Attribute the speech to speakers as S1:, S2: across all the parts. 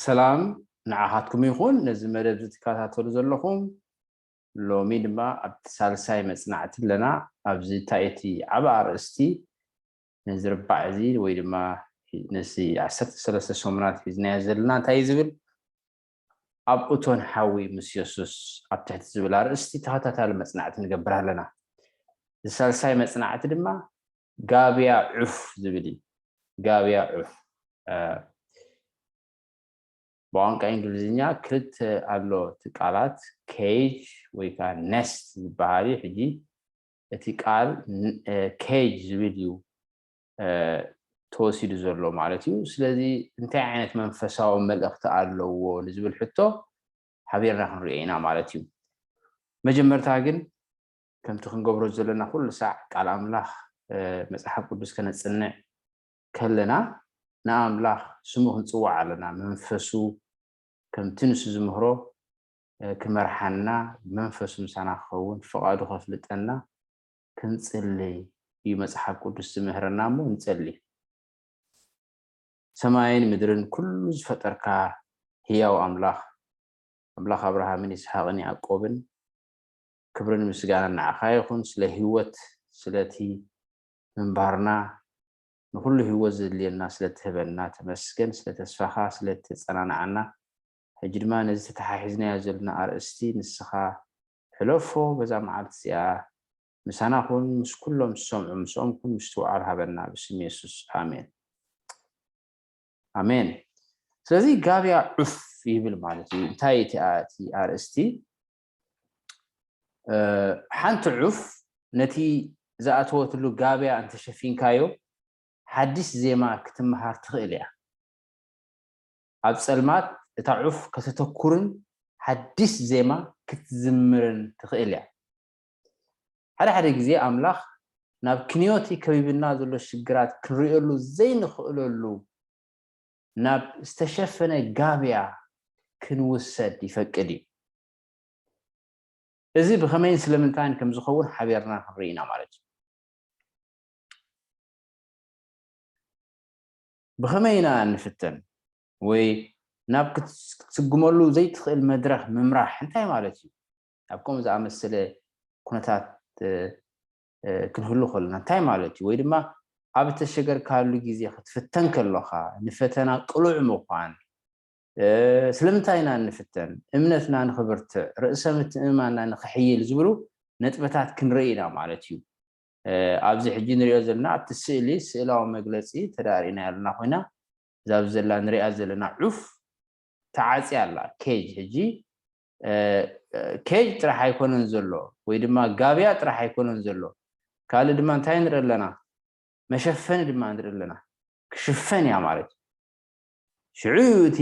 S1: ሰላም ንዓኻትኩም ይኹን ነዚ መደብ ዝትከታተሉ ዘለኹም ሎሚ ድማ ኣብቲ ሳልሳይ መፅናዕቲ ኣለና ኣብዚ እንታይ እቲ ዓብ ኣርእስቲ ነዚ ርባዕ እዚ ወይ ድማ ነዚ ዓሰርተ ሰለስተ ሰሙናት ሒዝናዮ ዘለና እንታይ እዩ ዝብል ኣብ እቶን ሓዊ ምስ የሱስ ኣብ ትሕቲ ዝብል ኣርእስቲ ተኸታታሊ መጽናዕቲ ንገብር ኣለና። እዚ ሳልሳይ መጽናዕቲ ድማ ጋብያ ዑፍ ዝብል እዩ። ጋብያ ዑፍ ብቋንቋ እንግሊዝኛ ክልተ ኣሎ እቲ ቃላት ኬጅ ወይ ከዓ ነስት ዝበሃል እዩ። ሕጂ እቲ ቃል ኬጅ ዝብል እዩ ተወሲዱ ዘሎ ማለት እዩ። ስለዚ እንታይ ዓይነት መንፈሳዊ መልእኽቲ ኣለዎ ንዝብል ሕቶ ሓቢርና ክንሪኦ ኢና ማለት እዩ። መጀመርታ ግን ከምቲ ክንገብሮ ዘለና ኩሉ ሳዕ ቃል ኣምላኽ መፅሓፍ ቅዱስ ከነፅንዕ ከለና ንኣምላኽ ስሙ ክንፅዋዕ ኣለና መንፈሱ ከምቲ ንሱ ዝምህሮ ክመርሓና መንፈሱ ምሳና ክኸውን ፍቓዱ ከፍልጠና ክንጽሊ እዩ መጽሓፍ ቅዱስ ዝምህረና እሞ ንጸሊ። ሰማይን ምድርን ኩሉ ዝፈጠርካ ህያው ኣምላኽ ኣምላኽ ኣብርሃምን ይስሓቅን ያዕቆብን ክብርን ምስጋናን ንዓኻ ይኹን ስለ ህይወት ስለቲ ምንባርና ንኩሉ ህይወት ዘድልየና ስለትህበና ተመስገን ስለ ተስፋኻ ስለተጸናንዓና ሕጂ ድማ ነዚ ተተሓሒዝናዮ ዘለና ኣርእስቲ ንስኻ ሕለፎ በዛ መዓልቲ እዚኣ ምሳና ኩን ምስ ኩሎም ዝሰምዑ ምስኦም ኩን ምስትውዓል ሃበና ብስም የሱስ ኣሜን ኣሜን ስለዚ ጋብያ ዑፍ ይብል ማለት እዩ እንታይ እቲኣ እቲ ኣርእስቲ ሓንቲ ዑፍ ነቲ ዝኣተወትሉ ጋብያ እንተሸፊንካዮ ሓዲስ ዜማ ክትምሃር ትኽእል እያ ኣብ ጸልማት እታ ዑፍ ከተተኩርን ሓድሽ ዜማ ክትዝምርን ትኽእል እያ። ሓደ ሓደ ግዜ ኣምላኽ ናብ ክንዮ'ቲ ከቢብና ዘሎ ሽግራት ክንርእየሉ ዘይንኽእለሉ ናብ ዝተሸፈነ ጋብያ ክንውሰድ ይፈቅድ እዩ። እዚ ብኸመይን ስለምንታይን ከም ዝኸውን ሓቢርና ክንርኢ ኢና ማለት እዩ። ብኸመይ ኢና እንፍተን? ወይ ናብ ክትስጉመሉ ዘይትኽእል መድረኽ ምምራሕ እንታይ ማለት እዩ? ኣብ ከምኡ ዝኣመሰለ ኵነታት ክንህሉ ከሎና እንታይ ማለት እዩ? ወይ ድማ ኣብ እተሸገርካሉ ግዜ ክትፍተን ከሎኻ ንፈተና ቅሉዕ ምዃን። ስለምንታይ ኢና እንፍተን? እምነትና ንኽብርትዕ፣ ርእሰ ምትእምማንና ንኽሕይል ዝብሉ ነጥብታት ክንርኢ ኢና ማለት እዩ። ኣብዚ ሕጂ ንሪኦ ዘለና ኣብቲ ስእሊ ስእላዊ መግለጺ ተዳሪእና ያለና ኮይና እዛ ኣብዚ ዘላ ንሪኣ ዘለና ዑፍ ተዓጽያ ኣላ ኬጅ ሕጂ ኬጅ ጥራሕ ኣይኮነን ዘሎ ወይ ድማ ጋብያ ጥራሕ ኣይኮነን ዘሎ ካልእ ድማ እንታይ ንርኢ ኣለና መሸፈኒ ድማ ንርኢ ኣለና ክሽፈን እያ ማለት እዩ ሽዑ እዩ እቲ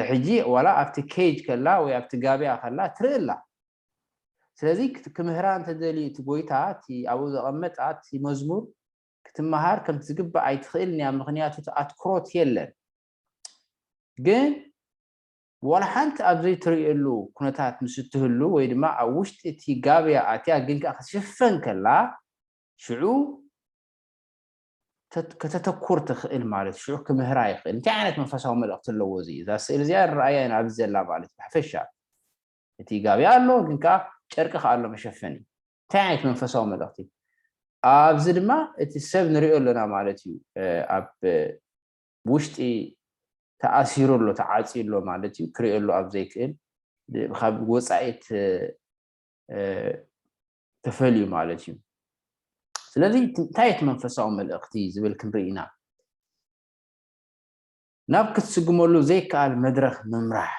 S1: ሕጂ ዋላ ኣብቲ ኬጅ ከላ ወይ ኣብቲ ጋብያ ከላ ትርኢ ኣላ። ስለዚ ክምህራ እንተደልዩ እቲ ጎይታ እቲ ኣብኡ ዘቐመጣ እቲ መዝሙር ክትመሃር ከምቲ ዝግባእ ኣይትኽእልን እያ ምኽንያቱ እቲ ኣትኩሮት የለን። ግን ዋላ ሓንቲ ኣብ ዘይትርእየሉ ኩነታት ምስ እትህሉ ወይ ድማ ኣብ ውሽጢ እቲ ጋብያ ኣትያ ግን ከኣ ክትሽፈን ከላ ሽዑ ከተተኩር ትኽእል ማለት እዩ ሽዑ ክምህራ ይኽእል እንታይ ዓይነት መንፈሳዊ መልእኽቲ ኣለዎ እዚ እዛ ስእሊ እዚኣ ንረኣያ ኢና ኣብዚ ዘላ ማለት ብሓፈሻ እቲ ጋቢ ኣሎ ግን ከዓ ጨርቂ ከዓ ኣሎ መሸፈኒ እንታይ ዓይነት መንፈሳዊ መልእኽቲ ኣብዚ ድማ እቲ ሰብ ንሪኦ ኣለና ማለት እዩ ኣብ ውሽጢ ተኣሲሩ ኣሎ ተዓፅዩ ኣሎ ማለት እዩ ክሪኦ ኣሎ ኣብ ዘይክእል ካብ ወፃኢት ተፈልዩ ማለት እዩ ስለዚ እንታይ እቲ መንፈሳዊ መልእኽቲ ዝብል ክንርኢ ኢና ናብ ክትስግመሉ ዘይከኣል መድረኽ ምምራሕ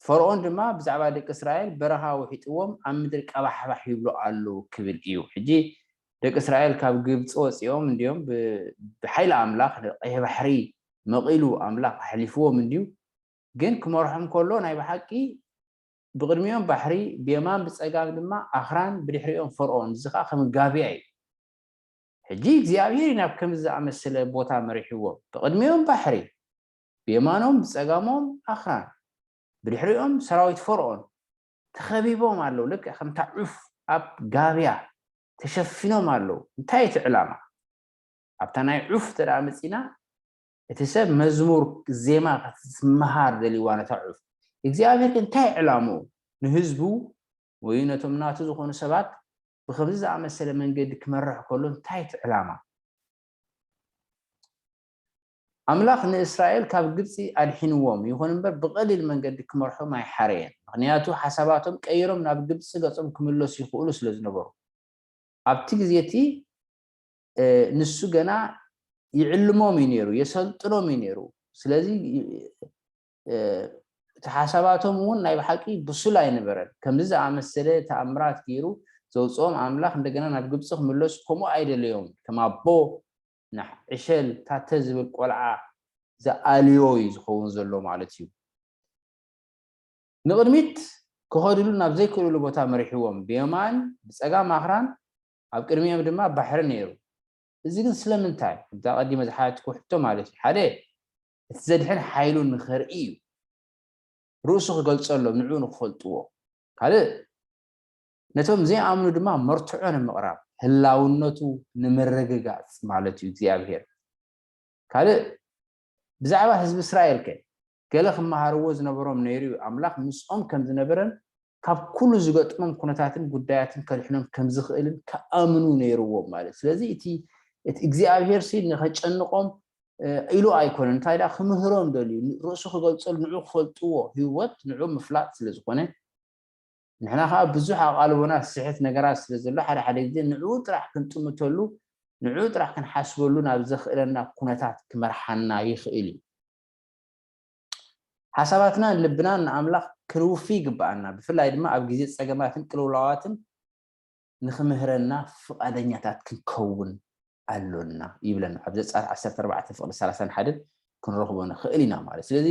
S1: ፈርኦን ድማ ብዛዕባ ደቂ እስራኤል በረኻ ውሒጥዎም ኣብ ምድሪ ቀባሕባሕ ይብሉ ኣሉ ክብል እዩ ሕጂ ደቂ እስራኤል ካብ ግብፂ ወፂኦም እንዲዮም ብሓይሊ ኣምላኽ ቀይሕ ባሕሪ መቒሉ ኣምላኽ ኣሕሊፍዎም እንዲዩ ግን ክመርሖም ከሎ ናይ ብሓቂ ብቕድሚኦም ባሕሪ፣ ብየማን ብጸጋም ድማ ኣኽራን፣ ብድሕሪኦም ፈርኦን፣ እዚ ኸኣ ከም ጋብያ እዩ። ሕጂ እግዚኣብሄር እዩ ናብ ከምዚ ዝኣመሰለ ቦታ መሪሕዎም። ብቕድሚኦም ባሕሪ፣ ብየማኖም ብጸጋሞም ኣኽራን፣ ብድሕሪኦም ሰራዊት ፈርኦን፣ ተኸቢቦም ኣለዉ፣ ልክዕ ከምታ ዑፍ ኣብ ጋብያ ተሸፊኖም ኣለዉ። እንታይ እዩ እቲ ዕላማ? ኣብታ ናይ ዑፍ እንተ መጺእና፣ እቲ ሰብ መዝሙር ዜማ ክትመሃር ደልይዋ ነታ ዑፍ። እግዚኣብሄር ግን እንታይ ዕላምኡ? ንህዝቡ ወይ ነቶም ናቱ ዝኾኑ ሰባት ብኸምዚ ዝኣመሰለ መንገዲ ክመርሕ ከሎ እንታይ እቲ ዕላማ? ኣምላኽ ንእስራኤል ካብ ግብጺ ኣድሒንዎም፣ ይኹን እምበር ብቐሊል መንገዲ ክመርሖም ኣይሓረየን፣ ምኽንያቱ ሓሳባቶም ቀይሮም ናብ ግብጺ ገጾም ክምለሱ ይኽእሉ ስለ ዝነበሩ። ኣብቲ ግዜ እቲ ንሱ ገና ይዕልሞም እዩ ነይሩ፣ የሰልጥኖም እዩ ነይሩ። ስለዚ እቲ ሓሳባቶም እውን ናይ ብሓቂ ብሱል ኣይነበረን። ከምዚ ዝኣመሰለ ተኣምራት ገይሩ ዘውፅኦም ኣምላኽ እንደገና ናብ ግብፂ ክምለሱ ከምኡ ኣይደለዮም። ከም ኣቦ ንሕ ዕሸል ታተ ዝብል ቆልዓ ዝኣልዮ እዩ ዝኸውን ዘሎ ማለት እዩ። ንቕድሚት ክኸድሉ ናብ ዘይክእልሉ ቦታ መሪሕዎም፣ ብየማን ብፀጋም ኣኽራን ኣብ ቅድሚኦም ድማ ባሕሪ ነይሩ። እዚ ግን ስለምንታይ? ከምቲ ኣቐዲመ ዝሓተትክዎ ሕቶ ማለት እዩ። ሓደ፣ እቲ ዘድሕን ሓይሉ ንኸርኢ እዩ፣ ርእሱ ክገልጸሎም፣ ንዕኡ ንኽፈልጥዎ። ካልእ፣ ነቶም ዘይኣምኑ ድማ መርትዖ ንምቕራብ፣ ህላውነቱ ንምርግጋጽ ማለት እዩ፣ እግዚኣብሄር። ካልእ፣ ብዛዕባ ህዝቢ እስራኤልከ? ገለ ክመሃርዎ ዝነበሮም ነይሩ'ዩ፣ ኣምላኽ ምስኦም ከም ዝነበረን ካብ ኩሉ ዝገጥሞም ኩነታትን ጉዳያትን ከድሕኖም ከም ዝኽእልን ክኣምኑ ነይሩዎም ማለት እዩ። ስለዚ እቲ እቲ እግዚኣብሄርሲ ንኸጨንቆም ኢሉ ኣይኮነን፣ እንታይ ደኣ ክምህሮም ደልዩ፣ ርእሱ ክገልጸሉ፣ ንዕኡ ክፈልጥዎ፣ ህይወት ንዕኡ ምፍላጥ ስለ ዝኾነ፣ ንሕና ከኣ ብዙሕ ኣቓልቦና ዝስሕት ነገራት ስለ ዘሎ፣ ሓደ ሓደ ግዜ ንዕኡ ጥራሕ ክንጥምተሉ፣ ንዕኡ ጥራሕ ክንሓስበሉ ናብ ዘኽእለና ኩነታት ክመርሓና ይኽእል እዩ። ሓሳባትናን ልብናን ንኣምላኽ ክንውፊ ይግብኣና፣ ብፍላይ ድማ ኣብ ግዜ ጸገማትን ቅልውላዋትን ንኽምህረና ፍቓደኛታት ክንከውን ኣሎና ይብለና። ኣብ ዘጸኣት ዓሰርተ ኣርባዕተ ፍቕዲ ሰላሳን ሓደን ክንረኽቦ ንኽእል ኢና ማለት። ስለዚ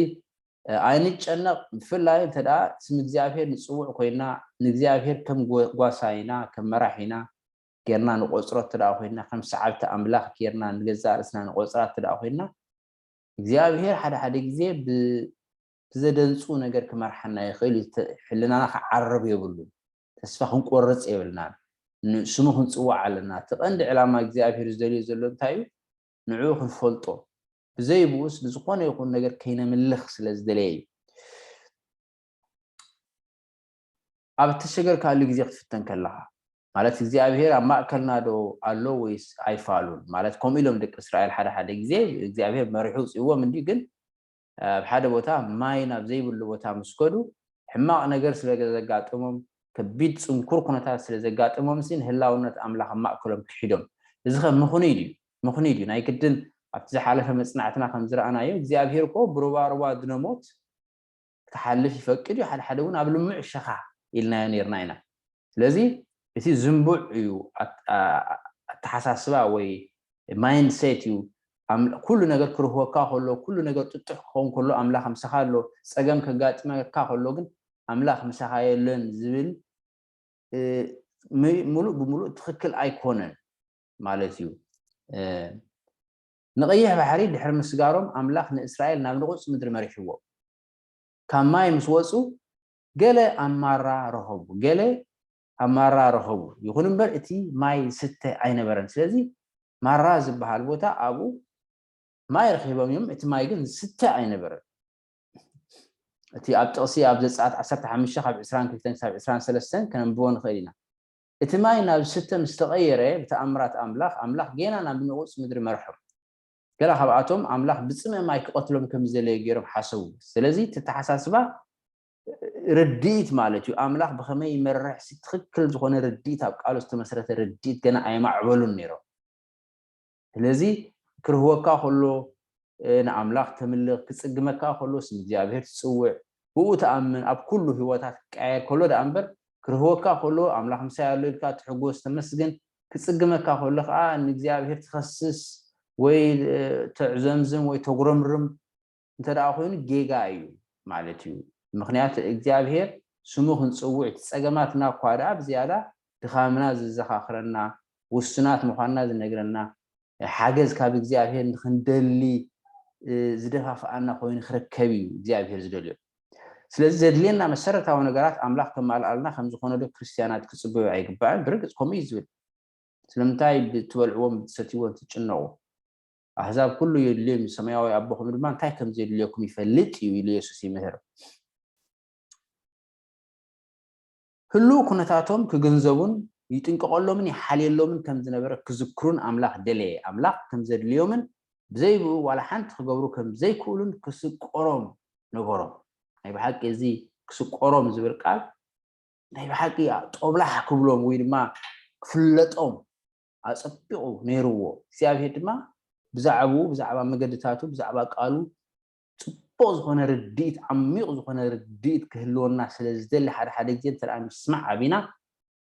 S1: ኣይንጨነቕ፣ ብፍላይ እንተ ደኣ ስም እግዚኣብሄር ንጽውዕ ኮይና፣ ንእግዚኣብሄር ከም ጓሳይና፣ ከም መራሒና ጌርና ንቖጽሮ እተ ደኣ ኮይና፣ ከም ሰዓብቲ ኣምላኽ ጌርና ንገዛእ ርእስና ንቖጽራ እተ ደኣ ኮይና፣ እግዚኣብሄር ሓደ ሓደ ግዜ ብዘደንጹ ነገር ክመርሓና ይኽእል እዩ። ሕልናና ክዓርብ የብሉን። ተስፋ ክንቆርጽ የብልናን። ንስሙ ክንጽዋዕ ኣለና። እቲ ቀንዲ ዕላማ እግዚኣብሄር ዝደልዮ ዘሎ እንታይ እዩ? ንዕኡ ክንፈልጦ፣ ብዘይብኡስ ንዝኾነ ይኹን ነገር ከይነምልኽ ስለ ዝደለየ እዩ። ኣብ እተሸገርካሉ ግዜ ክትፍተን ከለኻ፣ ማለት እግዚኣብሄር ኣብ ማእከልናዶ ኣሎ ወይስ ኣይፋሉን፣ ማለት ከምኡ ኢሎም ደቂ እስራኤል ሓደ ሓደ ግዜ እግዚኣብሄር መሪሑ ኣውጺእዎም እንድዩ ግን ኣብ ሓደ ቦታ ማይ ናብ ዘይብሉ ቦታ ምስ ከዱ ሕማቕ ነገር ስለ ዘጋጥሞም ከቢድ ጽንኩር ኩነታት ስለ ዘጋጥሞምሲ ንህላውነት ኣምላኽ ኣብ ማእከሎም ክሒዶም እዚኸ ምኽኑይ ድዩ ምኽኑይ ድዩ ናይ ግድን ኣብቲ ዝሓለፈ መጽናዕትና ከም ዝረኣናዮ እግዚኣብሄር እኮ ብሩባሩባ ድነ ሞት ክሓልፍ ይፈቅድ እዩ፣ ሓደሓደ እውን ኣብ ልሙዕ ሸኻ ኢልናዮ ነይርና ኢና። ስለዚ እቲ ዝንቡዕ እዩ ኣተሓሳስባ ወይ ማይንድ ሴት እዩ፣ ኩሉ ነገር ክርህወካ ከሎ፣ ኩሉ ነገር ጥጡሕ ክኸውን ከሎ ኣምላኽ ምሳኻ ኣሎ፣ ጸገም ከጋጥመካ ከሎ ግን ኣምላኽ ምሳኻ የለን ዝብል ምሉእ ብምሉእ ትኽክል ኣይኮነን ማለት እዩ። ንቐይሕ ባሕሪ ድሕሪ ምስጋሮም ኣምላኽ ንእስራኤል ናብ ንቑጽ ምድሪ መሪሕዎም። ካብ ማይ ምስ ወጹ ገለ ኣብ ማራ ረኸቡ ገለ ኣብ ማራ ረኸቡ ይኹን እምበር እቲ ማይ ዝስተ ኣይነበረን ስለዚ ማራ ዝብሃል ቦታ ኣብኡ ማይ ረኺቦም እዮም እቲ ማይ ግን ዝስተ ኣይነበረን። እቲ ኣብ ጥቕሲ ኣብ ዘጸኣት ዓሰርተ ሓሙሽተ ካብ ዕስራን ክልተን ክሳብ ዕስራን ሰለስተን ከነንብቦ ንኽእል ኢና። እቲ ማይ ናብ ዝስተ ምስ ተቐየረ ብተኣምራት ኣምላኽ፣ ኣምላኽ ጌና ናብ ንቑጽ ምድሪ መርሖም። ገለ ካብኣቶም ኣምላኽ ብጽምኢ ማይ ክቐትሎም ከም ዝደለየ ገይሮም ሓሰቡ። ስለዚ እቲ ኣተሓሳስባ ርድኢት ማለት እዩ። ኣምላኽ ብኸመይ ይመርሕሲ ትኽክል ዝኾነ ርድኢት ኣብ ቃሉ ዝተመስረተ ርድኢት ገና ኣየማዕበሉን ነይሮም። ስለዚ ክርህወካ ከሎ ንኣምላኽ ተምልኽ፣ ክጽግመካ ከሎስ ንእግዚኣብሄር ትጽውዕ፣ ብእኡ ትኣምን፣ ኣብ ኩሉ ህይወታ ክቀያየር ከሎ ደኣ እምበር፣ ክርህወካ ከሎ ኣምላኽ ምሳይ ኣሎ ኢልካ ትሕጎስ ተመስግን፣ ክጽግመካ ከሎ ከኣ ንእግዚኣብሄር ትኸስስ ወይ ተዕዘምዝም ወይ ተጉረምርም፣ እንተደኣ ኮይኑ ጌጋ እዩ ማለት እዩ ምኽንያቱ እግዚኣብሄር ስሙ ክንጽውዕ እቲ ጸገማትና እኳ ደኣ ብዝያዳ ድኻምና ዘዘኻኽረና ውሱናት ምዃንና ዝነግረና ሓገዝ ካብ እግዚኣብሄር ንኽንደሊ ዝደፋፍኣና ኮይኑ ክርከብ እዩ እግዚኣብሄር ዝደልዮ ስለዚ ዘድልየና መሰረታዊ ነገራት ኣምላኽ ከማልኣልና ከም ዝኾነዶ ክርስትያናት ክጽበዩ ኣይግባእን ብርግጽ ከምኡ እዩ ዝብል ስለምንታይ ብትበልዕዎን ብትሰትይዎን ትጭነቑ ኣህዛብ ኩሉ የድልዮም እዩ፣ ሰማያዊ ኣቦኹም ድማ እንታይ ከም ዜድልየኩም ይፈልጥ እዩ ኢሉ የሱስ ይምህር። ህሉው ኩነታቶም ክግንዘቡን ይጥንቀቐሎምን ይሓልየሎምን ከም ዝነበረ ክዝክሩን ኣምላኽ ደለየ። ኣምላኽ ከም ዘድልዮምን ብዘይብኡ ዋላ ሓንቲ ክገብሩ ከም ዘይክእሉን ክስቆሮም ነገሮም። ናይ ብሓቂ እዚ ክስቆሮም ዝብል ቃል ናይ ብሓቂ ጦብላሕ ክብሎም ወይ ድማ ክፍለጦም ኣጸቢቑ ነይሩዎ። እግዚኣብሄር ድማ ብዛዕብኡ፣ ብዛዕባ መገድታቱ፣ ብዛዕባ ቃሉ ጽቡቕ ዝኾነ ርድኢት፣ ዓሚቕ ዝኾነ ርድኢት ክህልወና ስለ ዝደሊ ሓደ ሓደ ግዜ እንተ ምስማዕ ኣቢና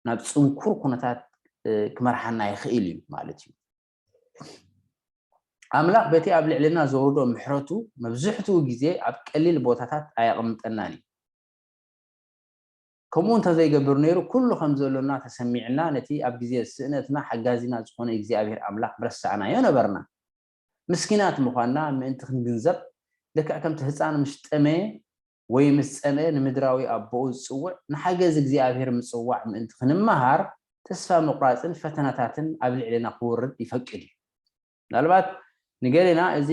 S1: ናብ ጽንኩር ኩነታት ክመርሓና ይኽእል እዩ ማለት እዩ። ኣምላኽ በቲ ኣብ ልዕልና ዘውርዶ ምሕረቱ መብዝሕትኡ ግዜ ኣብ ቀሊል ቦታታት ኣየቕምጠናን እዩ። ከምኡ እንተ ዘይገብር ነይሩ ኩሉ ከም ዘሎና ተሰሚዕና ነቲ ኣብ ግዜ ስእነትና ሓጋዚና ዝኾነ እግዚኣብሔር ኣምላኽ ምረሳዕናዮ ነበርና። ምስኪናት ምዃንና ምእንቲ ክንግንዘብ ልክዕ ከምቲ ህጻን ምስ ጠመየ ወይ ምስ ጸምኤ ንምድራዊ ኣቦኡ ዝጽውዕ ንሓገዝ እግዚኣብሔር ምጽዋዕ ምእንቲ ክንመሃር ተስፋ ምቑራጽን ፈተናታትን ኣብ ልዕሌና ክወርድ ይፈቅድ እዩ። ምናልባት ንገሌና እዚ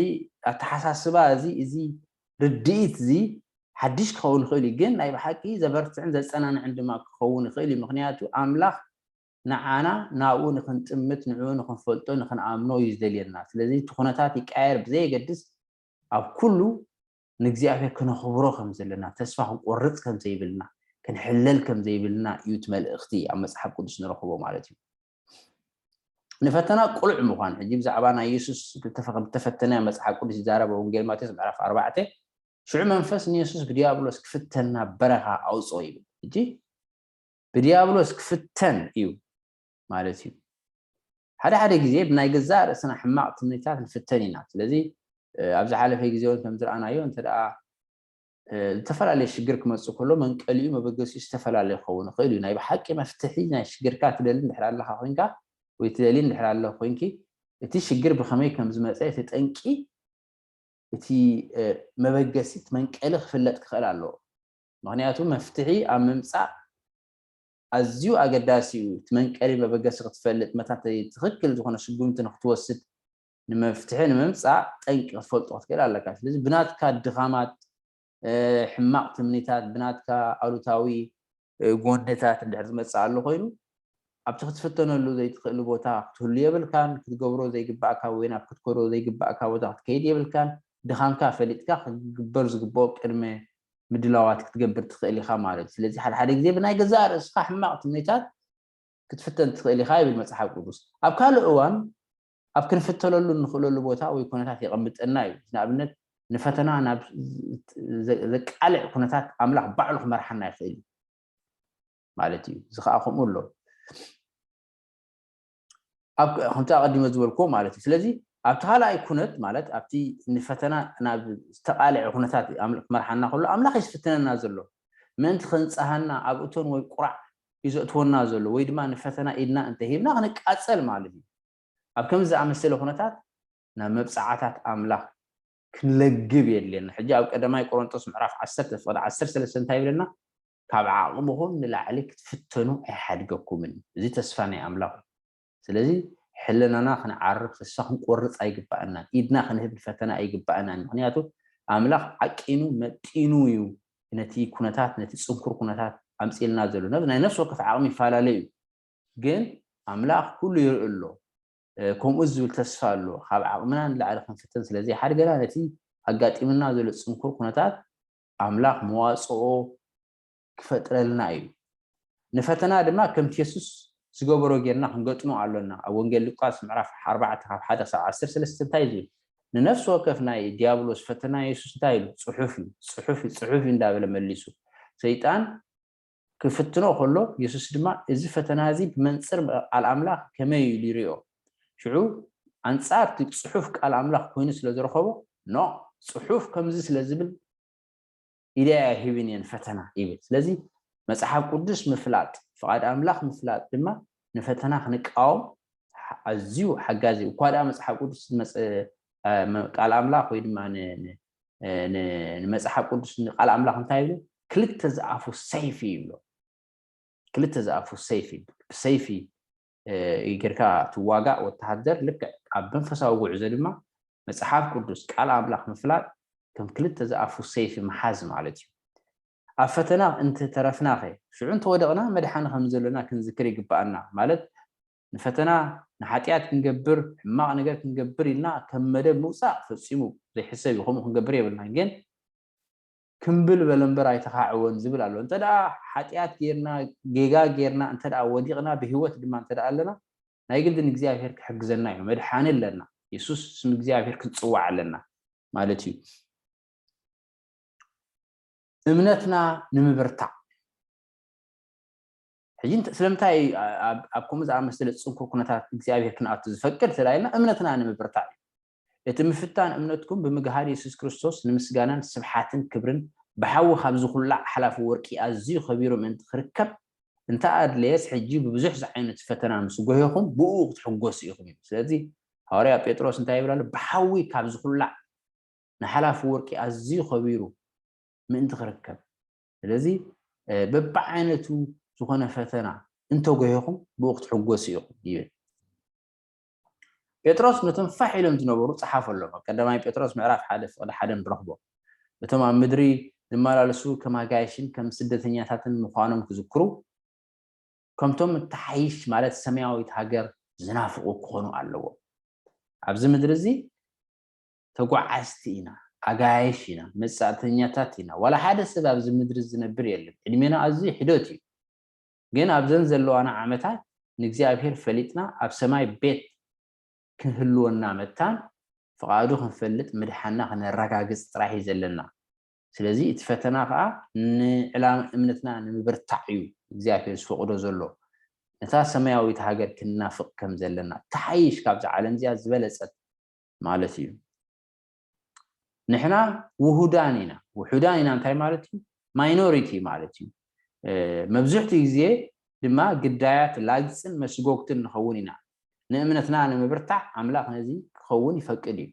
S1: ኣተሓሳስባ እዚ እዚ ርድኢት እዚ ሓድሽ ክኸውን ይኽእል እዩ፣ ግን ናይ ብሓቂ ዘበርትዕን ዘጸናንዕን ድማ ክኸውን ይኽእል እዩ፣ ምኽንያቱ ኣምላኽ ንዓና ናብኡ ንኽንጥምት ንዕኡ ንኽንፈልጦ ንኽንኣምኖ እዩ ዝደልየና፣ ስለዚ እቲ ኩነታት ይቀያየር ብዘየገድስ ኣብ ኩሉ ንእግዚኣብሄር ክነኽብሮ ከም ዘለና ተስፋ ክንቆርጽ ከም ዘይብልና ክንሕለል ከም ዘይብልና እዩ እቲ መልእኽቲ ኣብ መጽሓፍ ቅዱስ ንረኽቦ ማለት እዩ። ንፈተና ቅሉዕ ምዃን ሕጂ ብዛዕባ ናይ የሱስ ተፈተነ መጽሓፍ ቅዱስ ይዛረብ ወንጌል ማቴዎስ ምዕራፍ ኣርባዕተ ሽዑ መንፈስ ንየሱስ ብዲያብሎስ ክፍተን ናብ በረኻ ኣውጾ ይብል ሕጂ ብዲያብሎስ ክፍተን እዩ ማለት እዩ ሓደ ሓደ ግዜ ብናይ ገዛእ ርእስና ሕማቕ ትምኒታት ንፍተን ኢና ስለዚ ኣብ ዝሓለፈ ግዜ እውን ከም ዝረኣናዮ እንተ ዝተፈላለየ ሽግር ክመጽእ ከሎ መንቀሊኡ መበገሲኡ ዝተፈላለየ ክኸውን ይኽእል እዩ። ናይ ብሓቂ መፍትሒ ናይ ሽግርካ ትደሊ እንድሕር ኣለኻ ኮይንካ ወይ ትደልዪ እንድሕር ኣለኺ ኮይንኪ እቲ ሽግር ብኸመይ ከም ዝመጸ እቲ ጠንቂ እቲ መበገሲ እቲ መንቀሊ ክፍለጥ ክኽእል ኣለዎ። ምክንያቱ መፍትሒ ኣብ ምምጻእ ኣዝዩ ኣገዳሲ እዩ። እቲ መንቀሊ መበገሲ ክትፈልጥ መታተይ ትኽክል ዝኾነ ስጉምቲ ንክትወስድ ንመፍትሒ ንምምጻእ ጠንቂ ክትፈልጦ ክትክእል ኣለካ። ስለዚ ብናትካ ድኻማት፣ ሕማቕ ትምኒታት፣ ብናትካ ኣሉታዊ ጎንታት እንድሕር ዝመጽእ ኣሎ ኮይኑ፣ ኣብቲ ክትፍተነሉ ዘይትክእል ቦታ ክትህሉ የብልካን፣ ክትገብሮ ዘይግባእካ ወይ ናብ ክትከዶ ዘይግባእካ ቦታ ክትከይድ የብልካን፣ ድኻምካ ፈሊጥካ ክግበር ዝግበኦ ቅድመ ምድላዋት ክትገብር ትክእል ኢኻ ማለት እዩ። ስለዚ ሓደ ሓደ ግዜ ብናይ ገዛእ ርእስኻ ሕማቕ ትምኒታት ክትፍተን ትክእል ኢኻ ይብል መጽሓፍ ቅዱስ። ኣብ ካልእ እዋን ኣብ ክንፍተለሉ እንኽእለሉ ቦታ ወይ ኩነታት የቐምጠና እዩ። ንኣብነት ንፈተና ናብ ዘቃልዕ ኩነታት ኣምላኽ ባዕሉ ክመርሓና ይኽእል እዩ ማለት እዩ። እዚ ከዓ ከምኡ ኣሎ ከምቲ ኣቐዲመ ዝበልክዎ ማለት እዩ። ስለዚ ኣብቲ ካልኣይ ኩነት ማለት ኣብቲ ንፈተና ናብ ዝተቃልዐ ኩነታት ክመርሓና ከሎ ኣምላኽ እዩ ዝፍትነና ዘሎ ምእንቲ ከንፀሃና ኣብ እቶን ወይ ቁራዕ እዩ ዘእትወና ዘሎ ወይ ድማ ንፈተና ኢድና እንተሂብና ክንቃፀል ማለት እዩ። ኣብ ከምዚ ዝኣመሰለ ኵነታት ናብ መብጽዓታት ኣምላኽ ክንለግብ የድልየና። ሕጂ ኣብ ቀዳማይ ቆሮንጦስ ምዕራፍ ዓሰርተ ፍቕዲ ዓሰርተ ሰለስተ እንታይ ይብለና? ካብ ዓቕምኹም ንላዕሊ ክትፍተኑ ኣይሓድገኩምን። እዚ ተስፋ ናይ ኣምላኽ እዩ። ስለዚ ሕልናና ክንዓርፍ፣ ተስፋ ክንቆርጽ ኣይግባኣናን። ኢድና ክንህብ ንፈተና ኣይግባኣናን። ምኽንያቱ ኣምላኽ ዓቂኑ መጢኑ እዩ ነቲ ኵነታት ነቲ ጽንኩር ኵነታት ኣምጺእልና ዘሎ። ናይ ነፍሲ ወከፍ ዓቕሚ ይፈላለ እዩ። ግን ኣምላኽ ኩሉ ይርኢ ኣሎ ከምኡ ዝብል ተስፋ ኣሎ። ካብ ዓቕምና ንላዕሊ ክንፍተን ስለ ዘይሓድገና ነቲ ኣጋጢሙና ዘሎ ጽንኩር ኩነታት ኣምላኽ መዋጽኦ ክፈጥረልና እዩ። ንፈተና ድማ ከምቲ የሱስ ዝገበሮ ጌርና ክንገጥሞ ኣሎና። ኣብ ወንጌል ሉቃስ ምዕራፍ ኣርባዕተ ካብ ሓደ ክሳብ ዓሰርተ ሰለስተ እንታይ እዩ ዝብል? ንነፍሲ ወከፍ ናይ ድያብሎስ ፈተና የሱስ እንታይ ኢሉ? ጽሑፍ እዩ፣ ጽሑፍ እዩ፣ ጽሑፍ እዩ እንዳበለ መሊሱ። ሰይጣን ክፍትኖ ኸሎ፣ የሱስ ድማ እዚ ፈተና እዚ ብመንጽር ቓል ኣምላኽ ከመይ ኢሉ ይርእዮ? ሽዑ ኣንጻር እቲ ጽሑፍ ቃል ኣምላኽ ኰይኑ ስለ ዝረኸቦ፣ ኖእ፣ ጽሑፍ ከምዚ ስለ ዝብል፣ ኢደይ ኣይህብን እየ ንፈተና ይብል። ስለዚ፣ መጽሓፍ ቅዱስ ምፍላጥ፣ ፍቓድ ኣምላኽ ምፍላጥ ድማ ንፈተና ክንቃወም ኣዝዩ ሓጋዚ እዩ። እኳ ደኣ መጽሓፍ ቅዱስ ዝመጸ ቃል ኣምላኽ ወይ ድማ ንመፅሓፍ ቅዱስ ንቃል ኣምላኽ እንታይ ይብሉ ክልተ ዝኣፉ ሰይፊ ይብሎ ክልተ ዝኣፉ ሰይፊ ብሰይፊ ጌርካ ትዋጋእ ወተሃደር ልክዕ ኣብ መንፈሳዊ ጉዕዞ ድማ መፅሓፍ ቅዱስ ቃል ኣምላኽ ምፍላጥ ከም ክልተ ዝኣፉ ሰይፊ ምሓዝ ማለት እዩ ኣብ ፈተና እንተተረፍናኸ ሽዑ እንተወደቕና መድሓኒ ከም ዘሎና ክንዝክር ይግባኣና ማለት ንፈተና፣ ንሓጥያት ክንገብር፣ ሕማቕ ነገር ክንገብር ኢልና ከም መደብ ምውጻእ ፈጺሙ ዘይሕሰብ እዩ። ከምኡ ክንገብር የብልናን። ግን ክምብል በለ እምበር ኣይተኻዕወን ዝብል ኣሎ። እንተ ደኣ ሓጥያት ጌርና፣ ጌጋ ጌርና እንተ ደኣ ወዲቕና፣ ብህይወት ድማ እንተ ደኣ ኣለና፣ ናይ ግድን እግዚኣብሄር ክሕግዘና እዩ። መድሓኒ ኣለና። የሱስ፣ ስም እግዚኣብሄር ክንጽውዕ ኣለና ማለት እዩ። እምነትና ንምብርታዕ። ሕጂ ስለምንታይ እዩ ኣብ ከምኡ ዝኣመሰለ ጽንኩር ኩነታት እግዚኣብሄር ክንኣቱ ዝፈቅድ ተላኢልና? እምነትና ንምብርታዕ እዩ። እቲ ምፍታን እምነትኩም ብምግሃድ የሱስ ክርስቶስ ንምስጋናን ስብሓትን ክብርን ብሓዊ ካብ ዝኹላዕ ሓላፊ ወርቂ ኣዝዩ ከቢሩ ምእንቲ ክርከብ እንተ ኣድለየስ ሕጂ ብብዙሕ ዝዓይነቱ ፈተና ምስ ጎሄኹም ብእኡ ክትሕጎሱ ኢኹም ይብል። ስለዚ ሃዋርያ ጴጥሮስ እንታይ ይብል ኣሎ? ብሓዊ ካብ ዝኹላዕ ንሓላፊ ወርቂ ኣዝዩ ከቢሩ ምእንቲ ክርከብ። ስለዚ በብዓይነቱ ዝኾነ ፈተና እንተጎሄኹም ብኡ ክትሕጎሱ ኢኹም ይብል። ጴጥሮስ ነቶም ፋሕ ኢሎም ዝነበሩ ጸሓፈሎም። ቀዳማይ ጴጥሮስ ምዕራፍ ሓደ ፍቕዲ ሓደ ንረኽቦ። እቶም ኣብ ምድሪ ዝመላለሱ ከም ኣጋይሽን ከም ስደተኛታትን ምዃኖም ክዝክሩ ከምቶም እተሓይሽ ማለት ሰማያዊት ሃገር ዝናፍቑ ክኾኑ ኣለዎም ኣብዚ ምድሪ እዚ ተጓዓዝቲ ኢና፣ ኣጋይሽ ኢና፣ መጻእተኛታት ኢና፣ ዋላ ሓደ ሰብ ኣብዚ ምድሪ ዝነብር የለን፣ ዕድሜና ኣዝዩ ሕዶት እዩ፣ ግን ኣብዘን ዘለዋና ዓመታት ንእግዚኣብሄር ፈሊጥና ኣብ ሰማይ ቤት ክህልወና መታን ፍቓዱ ክንፈልጥ ምድሓንና ክነረጋግጽ ጥራሕ እዩ ዘለና፣ ስለዚ እቲ ፈተና ከኣ ንዕላማ እምነትና ንምብርታዕ እዩ እግዚኣብሄር ዝፈቕዶ ዘሎ፣ ነታ ሰማያዊት ሃገር ክንናፍቕ ከም ዘለና፣ ትሓይሽ ካብዛ ዓለምዚኣ ዝበለጸት ማለት እዩ ንሕና ውሁዳን ኢና ውሑዳን ኢና እንታይ ማለት እዩ ማይኖሪቲ ማለት እዩ መብዝሕትኡ ግዜ ድማ ግዳያት ላግፅን መስጎግትን ንኸውን ኢና ንእምነትና ንምብርታዕ ኣምላኽ ነዚ ክኸውን ይፈቅድ እዩ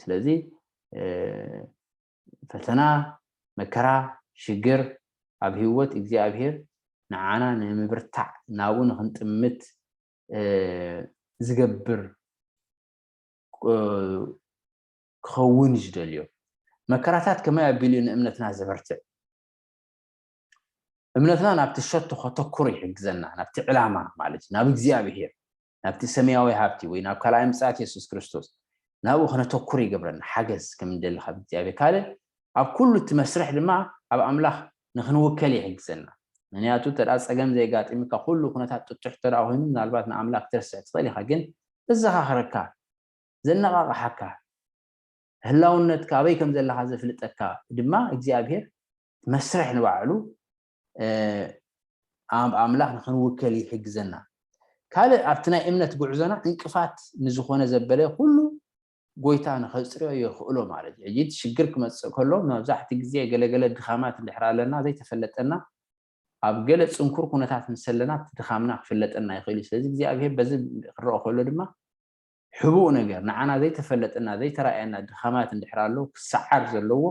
S1: ስለዚ ፈተና መከራ ሽግር ኣብ ህይወት እግዚኣብሄር ንዓና ንምብርታዕ ናብኡ ንክንጥምት ዝገብር ክኸውን እዩ ዝደልዮ መከራታት ከመይ ኣቢሉ እዩ ንእምነትና ዘበርትዕ እምነትና ናብቲ ሸቶ ከተኩር ይሕግዘና ናብቲ ዕላማ ማለት እዩ ናብ እግዚኣብሄር ናብቲ ሰማያዊ ሃብቲ ወይ ናብ ካልኣይ ምፅኣት የሱስ ክርስቶስ ናብኡ ክነተኩር ይገብረና ሓገዝ ከም ንደሊ ካብ እግዚኣብሄር ካልእ ኣብ ኩሉ እቲ መስርሕ ድማ ኣብ ኣምላኽ ንክንውከል ይሕግዘና ምክንያቱ እንተ ጸገም ዘየጋጢምካ ኩሉ ኩነታት ጥጡሕ እንተ ኮይኑ ምናልባት ንኣምላክ ክትረስዕ ትክእል ኢካ ግን ዘዘካክረካ ዘነቃቅሓካ ህላውነትካ ኣበይ ከም ዘለካ ዘፍልጠካ ድማ እግዚኣብሄር መስርሕ ንባዕሉ ኣብ ኣምላክ ንክንውከል ይሕግዘና ካልእ ኣብቲ ናይ እምነት ጉዕዞና እንቅፋት ንዝኮነ ዘበለ ኩሉ ጎይታ ንኸጽርዮ የኽእሎ ማለት እዩ። ሕጂ እቲ ሽግር ክመጽእ ከሎ መብዛሕትኡ ግዜ ገለ ገለ ድኻማት እንድሕር ኣለና ዘይተፈለጠና ኣብ ገለ ጽንኩር ኩነታት ምስ ኣለና እቲ ድኻምና ክፍለጠና ይኽእል እዩ። ስለዚ እግዚኣብሄር በዚ ክረኦ ከሎ ድማ ሕቡእ ነገር ንዓና ዘይተፈለጠና ዘይተራእየና ድኻማት እንድሕር ኣሎ ክሰዓር ዘለዎ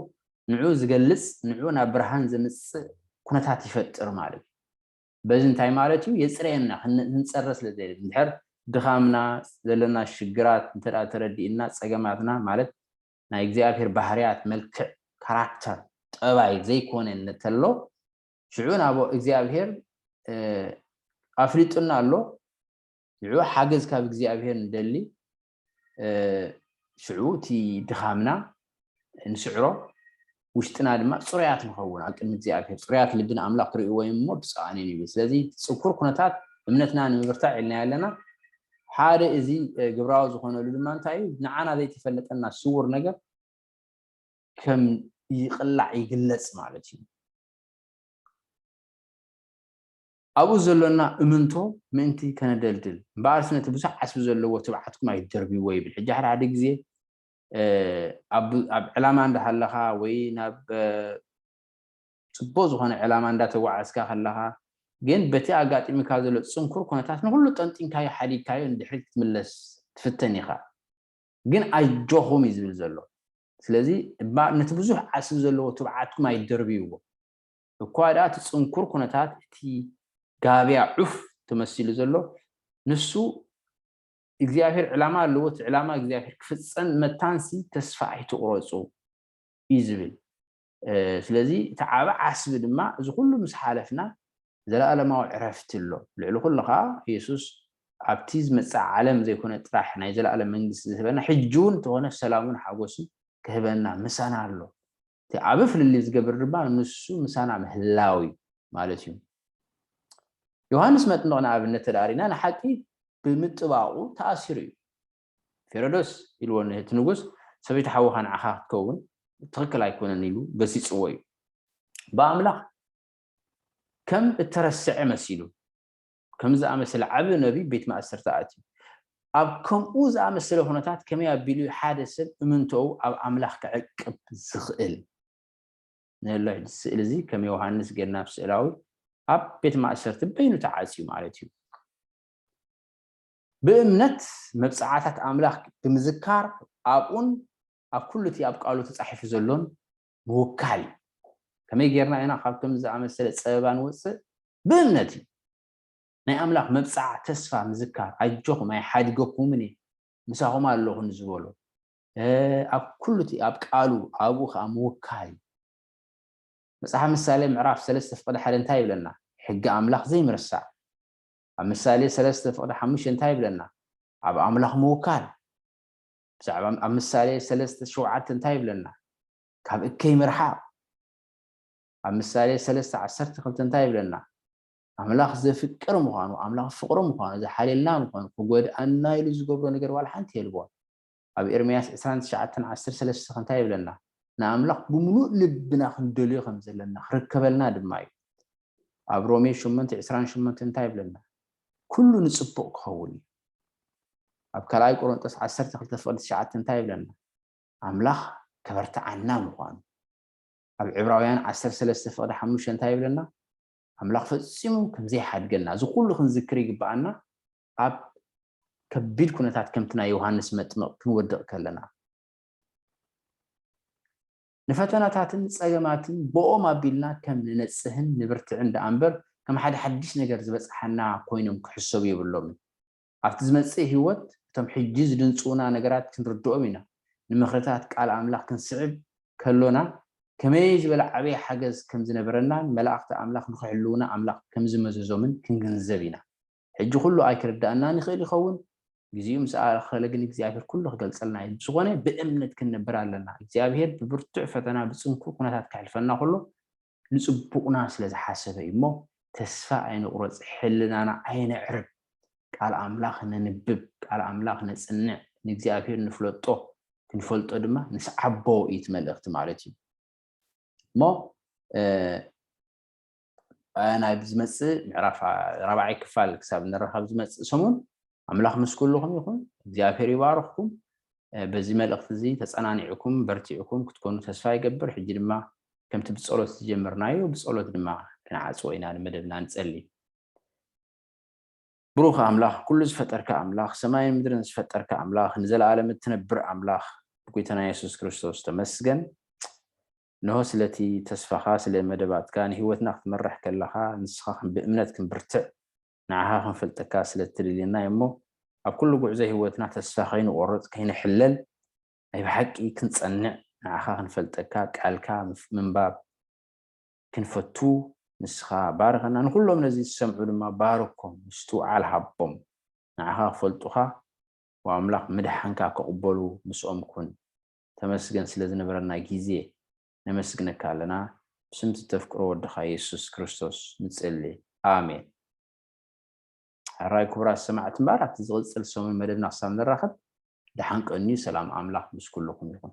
S1: ንዕኡ ዝገልጽ ንዕኡ ናብ ብርሃን ዘምጽእ ኩነታት ይፈጥር ማለት እዩ። በዚ እንታይ ማለት እዩ የጽርየና ክንጸረ ስለ ዘይደሊ እንድሕር ድኻምና ዘለና ሽግራት እንተ ተረዲእና ጸገማትና ማለት ናይ እግዚኣብሔር ባህርያት መልክዕ ካራክተር ጠባይ ዘይኮነ እንተሎ ሽዑ ናብ እግዚኣብሔር ኣፍሊጡና ኣሎ ሽዑ ሓገዝ ካብ እግዚኣብሔር ንደሊ ሽዑ እቲ ድኻምና ንስዕሮ ውሽጥና ድማ ፅሩያት ንኸውን ኣብ ቅድሚ እግዚኣብሔር ፅሩያት ልቢ ንኣምላኽ ክርእይዎ እዮም እሞ ብፅኣን እዮም ይብል ስለዚ ፅኩር ኩነታት እምነትና ንምብርታዕ ኢልናዮ ኣለና ሓደ እዚ ግብራዊ ዝኾነሉ ድማ እንታይ እዩ ንዓና ዘይተፈለጠና ስውር ነገር ከም ይቕላዕ ይግለፅ ማለት እዩ ኣብኡ ዘሎና እምንቶ ምእንቲ ከነደልድል እምበኣርሲ ነቲ ብዙሕ ዓስቢ ዘለዎ ትብዓትኩም ኣይትደርብይዎ ይብል። ሕጂ ሓደ ሓደ ግዜ ኣብ ዕላማ እንዳሃለኻ ወይ ናብ ጽቡቕ ዝኾነ ዕላማ እንዳተጓዓዝካ ከለኻ ግን በቲ ኣጋጢሙካ ዘሎ ጽንኩር ኩነታት ንኹሉ ጠንጢንካዮ ሓዲግካዮ ንድሕሪት ክትምለስ ትፍተን ኢኻ። ግን ኣጆኹም እዩ ዝብል ዘሎ። ስለዚ እባ ነቲ ብዙሕ ዓስቢ ዘለዎ ትብዓትኩም ኣይትደርብይዎ። እኳ ደኣ እቲ ጽንኩር ኩነታት እቲ ጋብያ ዑፍ ተመሲሉ ዘሎ ንሱ እግዚኣብሔር ዕላማ ኣለዎ እቲ ዕላማ እግዚኣብሔር ክፍጸም መታንሲ ተስፋ ኣይትቑረጹ እዩ ዝብል ስለዚ እቲ ዓብ ዓስቢ ድማ እዚ ኩሉ ምስ ሓለፍና ዘለኣለማዊ ዕረፍቲ ኣሎ ልዕሊ ኩሉ ከዓ ኢየሱስ ኣብቲ ዝመጽእ ዓለም ዘይኮነ ጥራሕ ናይ ዘለኣለም መንግስቲ ዝህበና ሕጂ እውን እንተኾነ ሰላሙን ሓጎስን ክህበና ምሳና ኣሎ እቲ ዓቢ ፍልልይ ዝገብር ድማ ንሱ ምሳና ምህላው እዩ ማለት እዩ። ዮሃንስ መጥምቕ ንኣብነት ተደኣ ሪእና ንሓቂ ብምጥባቑ ተኣሲሩ እዩ። ፌረዶስ ኢልዎ እቲ ንጉስ ሰበይቲ ሓውኻ ንዓኻ ክትከውን ትኽክል ኣይኮነን ኢሉ ገሲጽዎ እዩ። ብኣምላኽ ከም እተረስዐ መሲሉ ከምዚ ዝኣመሰለ ዓቢ ነብዪ ቤት ማእሰርቲ ኣትዩ። ኣብ ከምኡ ዝኣመሰለ ዅነታት ከመይ ኣቢሉ እዩ ሓደ ሰብ እምንቶኡ ኣብ ኣምላኽ ከዕቅብ ዝኽእል? ንላይ ስእሊ እዚ ከም ዮሃንስ ገናብ ስእላዊ ኣብ ቤት ማእሰርቲ በይኑ ተዓጽዩ ማለት እዩ። ብእምነት መብጽዓታት ኣምላኽ ብምዝካር ኣብኡን ኣብ ኩሉ እቲ ኣብ ቃሉ ተጻሒፉ ዘሎን ምውካል እዩ። ከመይ ጌርና ኢና ካብ ከምዚ ዝኣመሰለ ጸበባ ንወጽእ? ብእምነት እዩ። ናይ ኣምላኽ መብጽዓ ተስፋ ምዝካር፣ ኣጆኹም ኣይሓድገኩምን እየ፣ ምሳኹም ኣሎኹ ንዝበሎ ኣብ ኩሉ እቲ ኣብ ቃሉ ኣብኡ ከኣ ምውካል እዩ። መጽሓፍ ምሳሌ ምዕራፍ ሰለስተ ፍቕዲ ሓደ እንታይ ይብለና? ሕጊ ኣምላኽ ዘይምርሳዕ። ኣብ ምሳሌ ሰለስተ ፍቕዲ ሓሙሽተ እንታይ ይብለና? ኣብ ኣምላኽ ምውካል። ብዛዕባ ኣብ ምሳሌ ሰለስተ ሸውዓተ እንታይ ይብለና ካብ እከይ ምርሓቅ ኣብ ምሳሌ ሰለስተ ዓሰርተ ክልተ እንታይ ይብለና ኣምላኽ ዘፍቅር ምዃኑ ኣምላኽ ፍቅሪ ምዃኑ ዝሓልየልና ምዃኑ ክጎድኣና ኢሉ ዝገብሮ ነገር ዋላ ሓንቲ የልቦን ኣብ ኤርምያስ ዕስራን ትሽዓተን ዓሰርተ ሰለስተ ከ እንታይ ይብለና ንኣምላኽ ብምሉእ ልብና ክንደልዮ ከም ዘለና ክርከበልና ድማ እዩ ኣብ ሮሜ ሸሞንተ ዕስራን ሸሞንተ እንታይ ይብለና ኩሉ ንጽቡቕ ክኸውን እዩ። ኣብ ካልኣይ ቆሮንጦስ ዓሰርተ ክልተ ፍቕዲ ትሽዓተ እንታይ ይብለና? ኣምላኽ ከበርትዓና ምዃኑ። ኣብ ዕብራውያን ዓሰርተ ሰለስተ ፍቕዲ ሓሙሽተ እንታይ ይብለና? ኣምላኽ ፈጺሙ ከም ዘይሓድገና። እዚ ኩሉ ክንዝክር ይግብኣና ኣብ ከቢድ ኩነታት ከምቲ ናይ ዮሃንስ መጥምቕ ክንወድቕ ከለና። ንፈተናታትን ጸገማትን ብኦም ኣቢልና ከም ንነጽህን ንብርትዕን ደኣ እምበር ከም ሓደ ሓድሽ ነገር ዝበጽሓና ኮይኖም ክሕሰቡ የብሎምን። ኣብቲ ዝመጽእ ህይወት እቶም ሕጂ ዝድንጽዉና ነገራት ክንርድኦም ኢና። ንምኽርታት ቃል ኣምላኽ ክንስዕብ ከሎና ከመይ ዝበለ ዓቢ ሓገዝ ከም ዝነበረናን መላእኽቲ ኣምላኽ ንኽሕልዉና ኣምላኽ ከም ዝመዘዞምን ክንግንዘብ ኢና። ሕጂ ኩሉ ኣይክርዳኣናን ይክእል ይከውን ግዚኡ ምስ ኣኣከለ ግን እግዚኣብሄር ኩሉ ክገልጸልና እዩ ብዝኮነ ብእምነት ክንነብር ኣለና እግዚኣብሄር ብብርቱዕ ፈተና ብጽንኩር ኩነታት ከሕልፈና ከሎ ንጽቡቅና ስለ ዝሓሰበ እዩ እሞ ተስፋ ኣይንቁረጽ ሕልናና ኣየነዕርብ ቃል ኣምላክ ነንብብ ቃል ኣምላክ ነጽንዕ ንእግዚኣብሄር ንፍለጦ ክንፈልጦ ድማ ንስዓቦ እዩ እቲ መልእክቲ ማለት እዩ እሞ ናብ ዝመጽእ ምዕራፍ ራብዓይ ክፋል ክሳብ ንራኸብ ዝመጽእ ሰሙን ኣምላኽ ምስ ኩልኹም ይኹን። እግዚኣብሔር ይባርኽኩም። በዚ መልእኽቲ እዚ ተጸናኒዕኩም በርቲዕኩም ክትኮኑ ተስፋ ይገብር። ሕጂ ድማ ከምቲ ብጸሎት ዝጀመርናዮ ብጸሎት ድማ ክንዓጽዎ ኢና ንመደብና ንጸሊ። ብሩኽ ኣምላኽ ኩሉ ዝፈጠርካ ኣምላኽ ሰማይን ምድርን ዝፈጠርካ ኣምላኽ ንዘለኣለም እትነብር ኣምላኽ ብጎይታና የሱስ ክርስቶስ ተመስገን። እንሆ ስለቲ ተስፋኻ ስለ መደባትካ ንህይወትና ክትመርሕ ከለኻ ንስኻ ከም ብእምነት ክንብርትዕ ንዓኻ ክንፈልጠካ ስለ እትደልየና እዩ'ሞ ኣብ ኩሉ ጉዕዞ ህይወትና ተስፋ ከይንቆርጽ ከይንሕለል ናይ ብሓቂ ክንጸንዕ ንዓኻ ክንፈልጠካ ቃልካ ምንባብ ክንፈቱ ንስኻ ባርኸና ንኹሎም ነዚ ዝሰምዑ ድማ ባርኮም ምስትውዓል ሃቦም ንዓኻ ክፈልጡኻ ወኣምላኽ ምድሓንካ ክቕበሉ ምስኦም ኩን ተመስገን ስለ ዝነበረና ግዜ ነመስግነካ ኣለና ብስምቲ ተፍቅሮ ወድኻ የሱስ ክርስቶስ ንጽሊ ኣሜን። ሕራይ ክቡራት ሰማዕቲ እምበር ኣብቲ ዝቕጽል ሰሙን መደብና ክሳብ ንራኸብ ደሓን ቀንዩ ሰላም ኣምላኽ ምስ ኩልኹም ይኹን።